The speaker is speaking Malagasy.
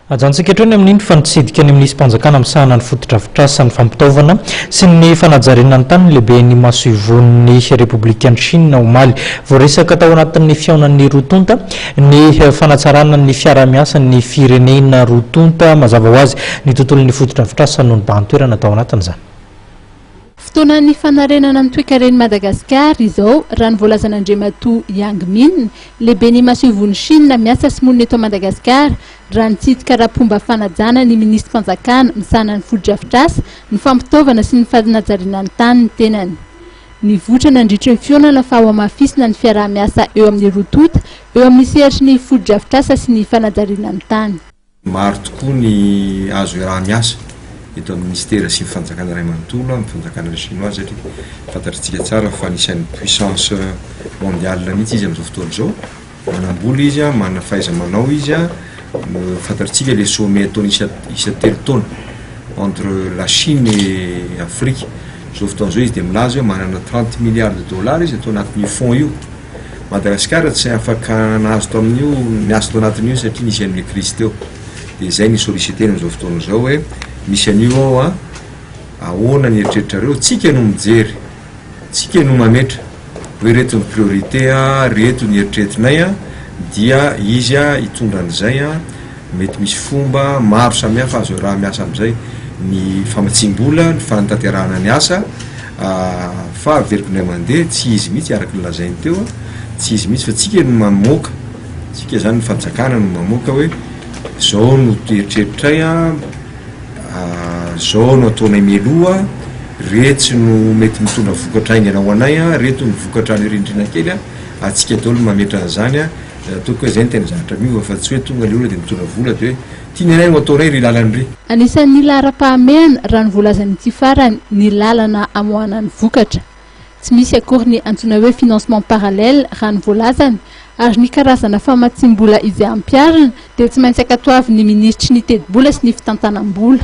Ajantsika hatreo ny amin'iny fa nitsidika ny Minisi-panjakana misahana ny fotodrafitrasa, ny fampitaovana sy ny fanajariana ny tany ny lehiben'ny masoivohon'ny Repoblikan'i Shina omaly. Voaresaka tao anatin'ny fihaonan'ny roa tonta ny fanatsarana ny fiaraha-miasan'ny firenena roa tonta. Mazava ho azy, ny tontolon'ny fotodrafitrasa no nibahan-toerana tao anatin'izany. Fotoanan'ny fanarenana ny toekaren'i Madagasikara izao, raha ny voalazan'Andriamatoa Yang Min, lehiben'ny Masoivohon'i Shina miasa sy monina eto Madagasikara, raha nitsidika ara-pomba fanajana ny minisitrim-panjakana misahana ny fotodrafitrasa, ny fampitaovana sy ny fanajariana ny tany ny tenany. Nivoitra nandritry ny fihaonana fa hohamafisina ny fiaraha-miasa eo amin'ny roa tonta eo amin'ny sehatry ny fotodrafitrasa sy ny fanajariana ny tany. Maro tokoa ny azo iaraha-miasa eto amin'ny Minisitera sy ny Fanjakana iray manontolo amin'ny Fanjakana Chinois satria fantatr'itsika tsara fa anisan'ny puissance mondiale mihitsy izy amin'izao fotoana izao. Manam-bola izy, manana fahaiza-manao izy, fantatr'itsika ilay sommet ataony isa isan-telo taona entre la Chine et Afrique. Izao fotoana izao izy dia milaza hoe manana trente milliards de dollars izy ato anatin'io fonds io. Madagasikara tsy afaka nahazo tamin'io niaso tao anatin'io satria nisy an'ilay crise teo dia izay ny solliciter-ny amin'izao fotoana izao hoe misy an'io ao an, ahoana ny eritreritrareo, tsika no mijery, tsika no mametra hoe ireto ny priorité an, ireto ny eritreretinay an, dia izy an hitondra an'izay an. Mety misy fomba maro samihafa azo iaraha-miasa amin'izay, ny famatsiam-bola, ny fanatanterahana ny asa, fa averiko indray mandeha, tsy izy mihitsy araka ny lazainy teo, tsy izy mihitsy fa tsika no mamoaka, tsika izany ny fanjakana no mamoaka hoe zao no eritreritray an, zao no ataonay mialoha, retsy no mety mitondra vokatra haingana ho anay an, reto no vokatra any rindrina kely an, atsika daholo no mametra an'izany an, Raha toa ka izay ny tena zavatra miova fa tsy hoe tonga ny olona dia mitondra vola dia hoe tiany iray no atao iray ry lalany ry. Anisan'ny laharam-pahamehana raha ny voalazany ity farany ny lalana amoahana ny vokatra. Tsy misy akory ny antsoina hoe financement parallèle raha ny voalazany ary ny karazana famatsiam-bola izay ampiharina dia tsy maintsy ankatoavin'ny minisitry ny tetibola sy ny fitantanam-bola.